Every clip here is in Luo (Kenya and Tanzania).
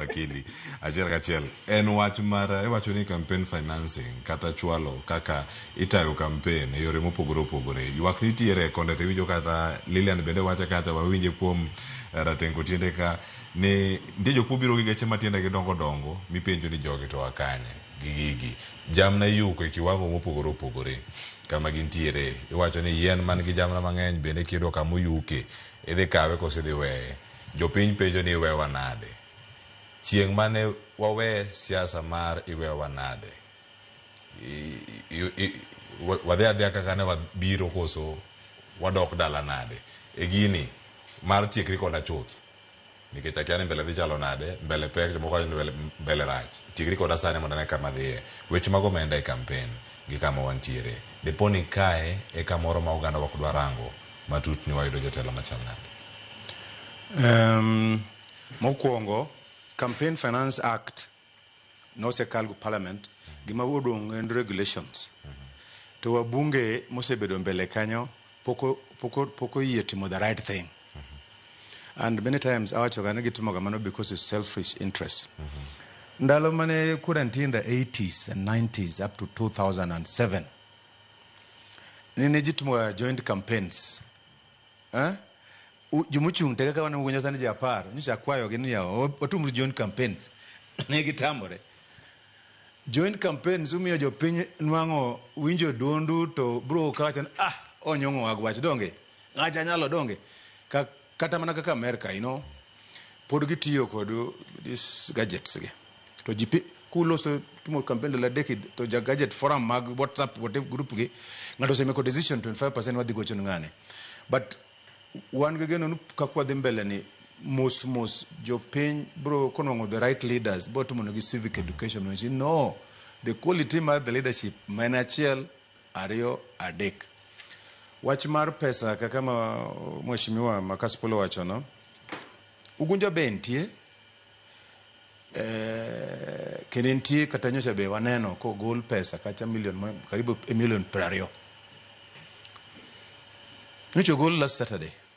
akili achiel kachiel en wach mar iwacho ni campaign financing kata chwalo kaka itayo campaign e yore mopogore opogore ywak nitiere konde to iwinjo kata Lilian bende wacha kata wawinje kuom eh, ratengo tiende ka ni nitie jok mobiro gi geche matiende gi dongo dongo mipenjo ni jogi to akanye gi gigi jamna iyuko e kiwango mopogore opogore kama gintiere iwacho ni yien man gi jamna mang'eny bende kiyudo kama oyuke idhi kawe kosidhi weye Jopiny penjo ni iwewa nade? Chieng' mane wawe siasa mar iwewa nade? Wadhi adhiya kaka ne wabiro koso wadok dala nade? E gini mar tiekri koda chuth nikech akia ni mbele dhi chalo nade, mbele pek, jomoko wacho ni mbele rach. Tiekri koda sani mondo ane kama adhiye. Weche mag omenda e kampen gi kama wantiere. Dipo ni kae e kamoro ma ogandawa ok dwa rango. matut ni wayudo jotelo machal nade? Um, mokwongo Campaign Finance Act nosekal go parliament, gima odong' en regulations. To wabunge mosebedo mbele kanyo poko poko poko yie timo the right thing. And many times awacho ga ni gitimo kamano because it's selfish interest. Ndalo mane kura nitie in the 80s and 90s up to 2007 Ni ne ji timo ga joint campaigns. Eh? U- Jomochung' te kaka waneno nyocha sani ji apar, nyocha akwayogi ni yawa, wa- watumuru joint campaigns. Ne gitamore. Joint campaigns umiyo jopiny nwang'o winjo duondu to bro ka wacho ni ah onyong'o agwach donge ng'acha nyalo donge ka Kata mana kaka Amerka, you know, pod gitiyo kod this gadgets gi. To ji pi- kuloso timo campaign dala deki to ja gadget forum mag WhatsApp whatever group gi ng'ato osemeko decision 25% wadhi gocho ni ng'ane. But wan gi geno ni kaka wadhi mbele ni mos mos jopiny bro konwang'o the right leaders bro timo negi civic education no the quality mar the leadership ma en achiel ariyo adek Wach mar pesa kaka ma mheshimiwa Makasipul owachono, Ugunja be entie eh, kendo entie kata nyocha be waneno kogol pesa kacha milion ma- karibu e milion piero ariyo nyocha ogol last Saturday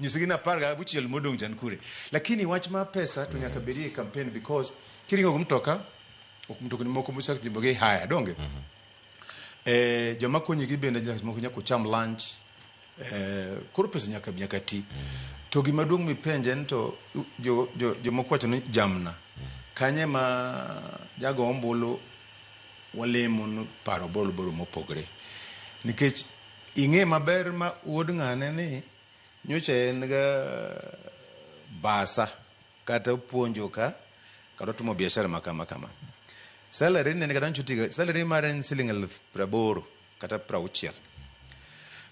Nyisgi ni apar ga auchiel modong' cha ni kure. Lakini wach ma pesa to nyaka bedie e campaign because kiringo gi mtoka, ok mtokni moko mochak jimbo gi haya, donge? Eh, joma konyi gi bende jok moko nyaka ucham lunch. Eh, koro pesa nyaka nyaka ti. To gima duong' mipenje ni to u- jo jo jomoko wacho ni jamna. Kanye ma jago ombulu walemo ni paro bolo bolo mopogre. Nikech ing'e maber ma wuod ng'ane ni Nyocha en ga basa kata opuonjo ka kata otimo biashara ma kama kama. Salary ne en kata nyocha otiga salary mare en siling elfu praboro kata prauchiel.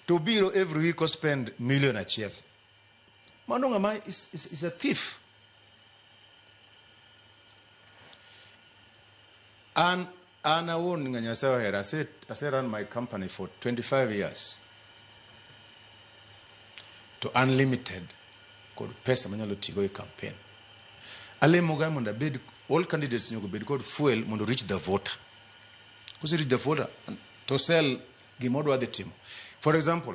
To obiro every week o spend million achiel. Mano ng'ama is, is, is a thief. An An awuon nga Nyasaye ohera. Ase, ase run my company for 25 years. To an limited kod pesa manyalo tigo e campaign. Alemoga mondo abed all candidates nyaka bed kod fuel mondo reach the voter. Kose reach the voter to sell gima odwa dhi timo. For example,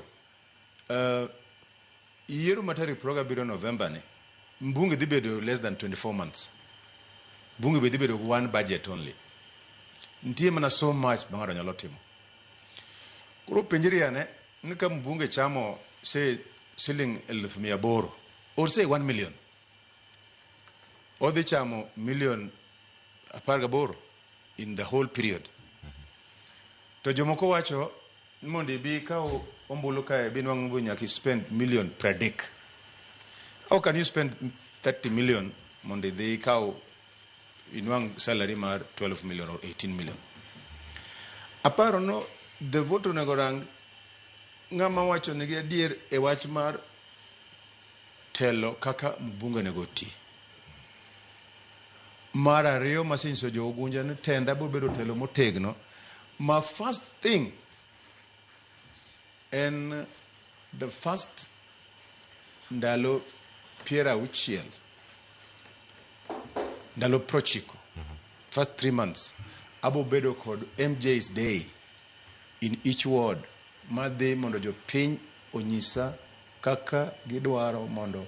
Yiero ma tarik piero gabiriyo November ni, mbunge dhi bedo less than 24 months. Bunge be dhi bedo gi one budget only. Nitie mana so much ma ng'ato nyalo timo. Koro penjri ane ni ka mbunge chamo say siling eluf mia aboro or say one million, odhi chamo million apar gaboro in the whole period. To jomoko wacho Ni mondo ibi ikaw ombulu kae binwang'o go nyaka ispend million pradek. How can you spend 30 million mondo idhi ikaw inwang' salary mar 12 million or 18 million? Aparo no the vote onego rang ng'ama wacho nigi adier e wach mar telo kaka mbunge onego oti. Mar ariyo masinyiso jo Ugunja ni tenda biro bedo telo motegno ma first thing en the first ndalo piero auchiel ndalo prochiko first three months abo bedo kod MJ's day in each ward madhi mondo jopiny onyisa kaka gidwaro mondo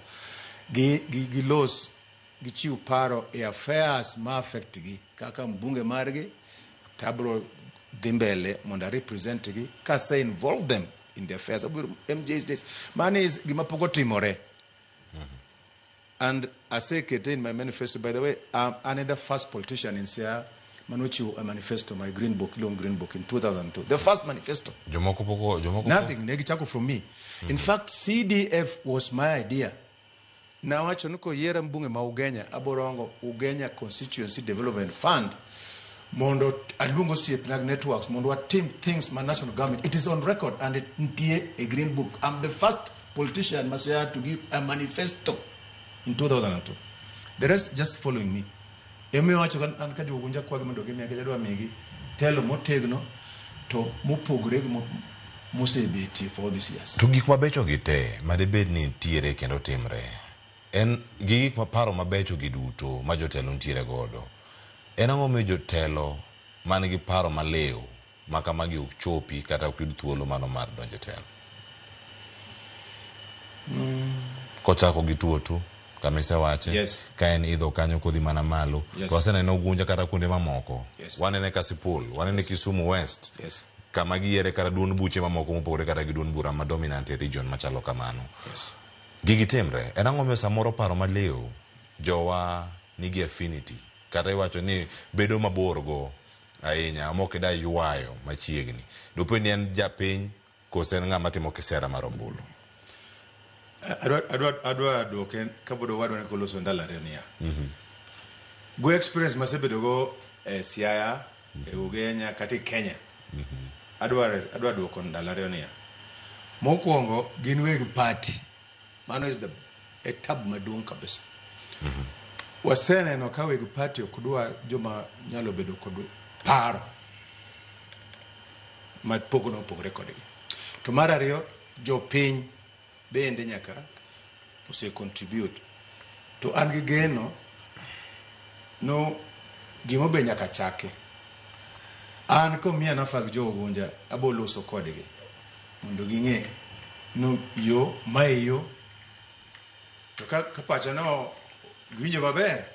gi- gi- gilos gichiw paro e affairs ma affect gi kaka mbunge margi to abro dhi mbele mondo a represent gi kase involve them in the affairs abro MJ's days mano is gima pok otimore and asekete in my manifesto by the way I'm, I'm the first politician in Siaya manochiwo a manifesto my green book iluongo green book in 2002 the first manifesto Jomoko poko, jomoko poko. nothing ne gichako from me in fact cdf was my idea Nawacho ni koyiera mbunge ma Ugenya aborongo Ugenya Constituency Development Fund mondo aluong osiepna gi networks mondo watim things ma national government it is on record and it ntie e green book I'm the first politician ma Siaya to give a manifesto in 2002 the rest just following me Emomiyo awacho ka an ka jogo unja kwagi mondo gimiya nikech adwa migi telo motegno to mopogore gi mosebetie for all these years. To gik mabecho gi te ma debed ni nitiere kendo timre en gi gik ma paro mabecho gi duto ma jotelo nitiere godo. En ang'o momiyo jotelo man gi paro maliw ma kamagi ok chopi kata ok yud thuolo mano mar donjo e telo. Kochako gi tuotu kama isewache Yes. ka en idho kanyo kodhi mana malo Yes. to wasenene Ogunja kata kuonde mamoko Yes. wanene Kasipul wanene Kisumu West Yes. kama giyiere kata duond buche mamoko mopogore kata gi duond bura ma dominant e region machalo kamano Yes. gigi timre en ang'o miyo samoro paro maliw jowa nigi affinity kata iwacho ni bedo mabor go Ahinya. Ama ok idwa ywayo machiegni. Dopo ni en japiny koso en ng'ama timo kisera mar ombulu. Adwa, adwa, adwa duoke kapod owadwa ne koloso ndalo ariyo niya. Go experience masebedo go e Siaya, e Ugenya, kata e Kenya. Adwa, adwa duoko ndalo ariyo niya. Mokuongo gin weg party. Mano is the e tabu maduong' kabisa. Waseneno ka weg party ok dwa joma nyalo bedo kod paro ma pogno opogre kodgi. To mar ariyo, jopiny bende nyaka ose contribute. To an gi geno no gimo be nyaka chaki. An komiya nafas gi jo Ogunja aboloso kodgi. mondo ging'e no yo ma e yo to ka ka pacha no giwinjo maber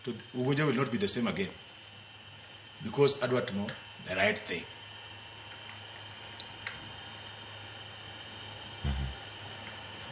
to ugunja will not be the same again because adwa timo the right thing